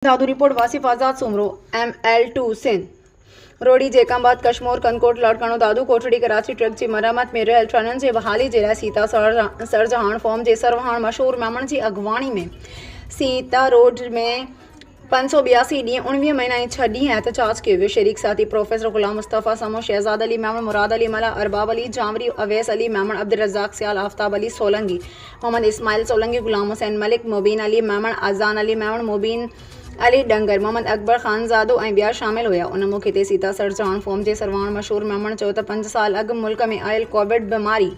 Dadu report, Wasif Azad Soomro, M L two, Sindh, Rohri, Jacobabad, Kashmore, Kandhkot, Larkana, Dadu, Kotri, Karachi, track جي مرمت ۾ رھيل ٽرينن جي بحالي جي لاء سيتا سرجهاڻ فارم جي سرواڻ مشھور ميمڻ جي اڳواڻي ۾ سيتا روڊ ۾ پنج سؤ ٻياسي ڏينهن، اڻويهه مھينا ۽ ڇهه ڏينهن احتجاج ڪيو ويو، شريڪ ساٿي پروفيسر غلام مصطفيٰ سمون، شھزاد علي ميمڻ، مراد علي ملاح، ارباب علي جانوري، اويس علي ميمڻ، عبدالرزاق سيال، آفتاب علي سولنگي، محمد اسماعيل سولنگي، غلام حسين ملڪ، مبين علي ميمڻ، اذان علي ميمڻ، مبين علي ڏنگر، محمد اڪبر خانزادو ۽ ٻيا شامل هيا. ان موقعي تي سيتا سر چوهاڻ فورم جي سرواڻ مشهور ميمڻ چيو ته پنج سال اڳ ملڪ ۾ آيل ڪووڊ بيماري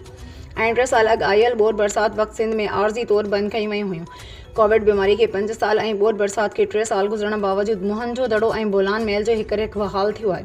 ۽ ٽي سال اڳ آيل ٻوڏ برسات وقت سنڌ ۾ عارضي طور بند ڪيون ويون هيون. ڪووڊ بيماري کي پنج سال ۽ ٻوڏ برسات کي ٽي سال گذرڻ باوجود موهن جو دڙو ۽ بولان محل جو هڪرهڪ بحال ٿيو آهي.